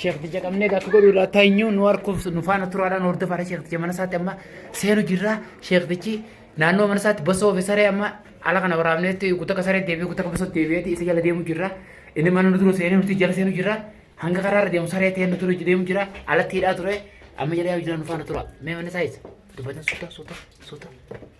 Sheekh Tija qabnee akka godhu irraa teenyu nu harkuuf nu faana turaadhaan hordofaadha Sheekh Tija mana isaatti amma seenu jirra Sheekh Tichi naannoo mana isaatti basoo fi saree amma ala kana waraabneetti guutuu akka saree deebi'ee guutuu akka basoo deebi'eetti isa jala deemu jirra inni mana nu dura seenee nuti jala seenu jirra hanga karaa irra deemu saree ta'ee nu dura deemu jirra alatti hidhaa ture amma jala yaa'u jira nu faana tura mee mana isaa isa dubbatan suuta suuta suuta.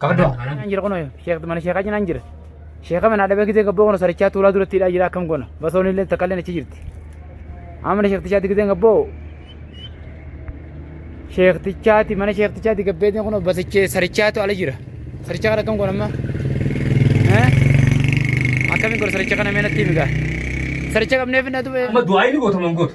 Qabaddu haa. Naan jira kunoo sheek mana sheekaa cinaan jira. Sheeka manaa dhabee gizee gabboo kana sarichaa tuulaa duratti hidhaa jira akkam goona. Basoon illee takka illee achi jirti. Amma mana sheektichaatti gizeen gabboo sheektichaatti mana sheektichaatti gabbeetiin kunoo basichee sarichaatu ala jira. Sarichaa kana akkam goona amma? Eh? Akkamiin goona saricha kana mee natti himi gaa. Saricha qabnee finna du'ee. Amma du'aa inni goota mangoota.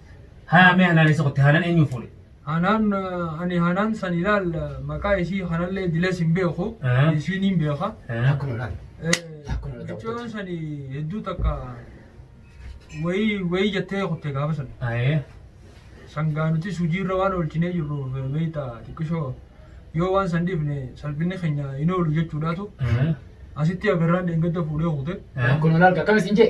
Haa mee hanaan eessa qotte hanaan eenyuun fuudhe? Hanaan ani hanaan san ilaal maqaa isii kanallee dilees hin beeku isiin hin beeka. Akkuma laal. Micoon sani hedduu takka wayii wayii jettee kutte gaafa san. Sangaa nuti sujiirra waan oolchinee jirru beekta xiqqishoo yoo waan san dhiifne salphinni keenya hin oolu jechuudhaatu asitti agarraan dheengadda fuudhee kute. Akkuma laal akkam isin jee?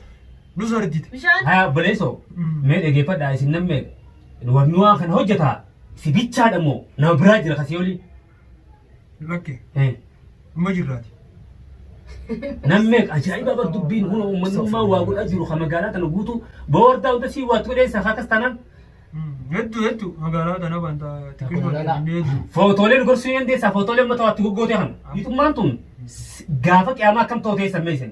Nus argite. Bishaan. Haa obboleessoo mee dhageeffadhaa isin namni warni waan kana hojjetaa si bichaadha moo nama biraa jira kasii olii Lakke. Eh, Dhuma jirraati. namni ajaa'iba bar dubbiin huna uummanummaa waa godhaa jiru kan magaalaa tana guutuu boordaa hunda sii waatti godhee isaa akkas tanan Hedduu hedduu magaalaa tana wanta xiqqoo Magaalaa. inni hedduu. footoolee nu gorsuu ni dandeessaa footoolee uummata waatti goggootee kana. Bitummaan tun gaafa qiyaamaa akkam ta'u ta'e sammeessin.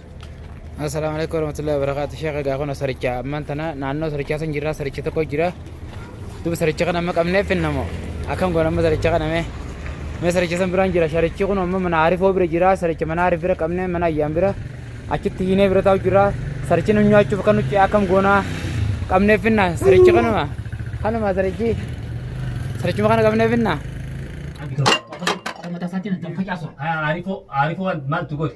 Assalaamu alaikum warahmatullahi wabarakatuh. Sheekh egaa kun saricha ammaan tana naannoo sarichaa san jirra saricha tokko jira. Duuba saricha kana amma qabnee finnamoo akkam goona amma saricha kana mee mee saricha san biraan jira sarichi kun amma mana arifoo bira jira saricha mana arif bira qabnee mana ayyaan bira achitti hiinee bira taa'u jira sarichi nu nyaachuuf kan nuti akkam goona qabnee finna saricha kanuma kanuma sarichi sarichuma kana qabnee finna. Mata saatiin kan facaasu. Arifoo arifoo maaltu godhe?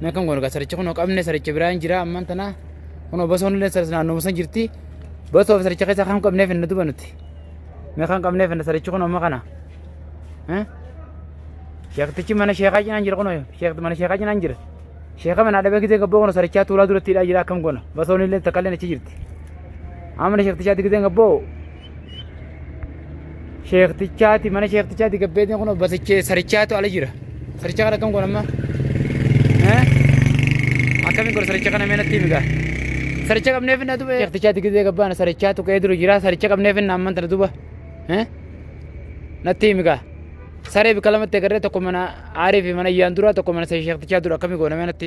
Mee kan goonu saricha kunoo qabne saricha biraa hin jira amman tana kunoo basoon illee saris naannoo san jirti basoo fi saricha keessaa kan qabneef hin duba nuti mee kan qabneef hin sarichi kunoo amma kana sheektichi mana sheekaa cinaan jira kunoo sheekti mana sheekaa cinaan jira sheeka mana dhabee gisee gabboo kunoo sarichaa tuulaa duratti hidhaa jira akkam goona basoon illee takka illee achi jirti amma sheektichaatti gisee gabboo Sheektichaati mana sheektichaati gabbeetiin kun basichee sarichaatu ala jira. Saricha kana akkam goon amma? Akkamiin goon saricha kana meenatti migaa? Saricha qabnee finna duba. Sheektichaati gizee gabbaana sarichaatu ka'ee duru jira saricha qabnee finna amman tana duba. Natti migaa. Saree bika lamatti agarree tokko mana aarii fi mana iyyaan dura tokko mana sheektichaa dura akkamii goona meenatti.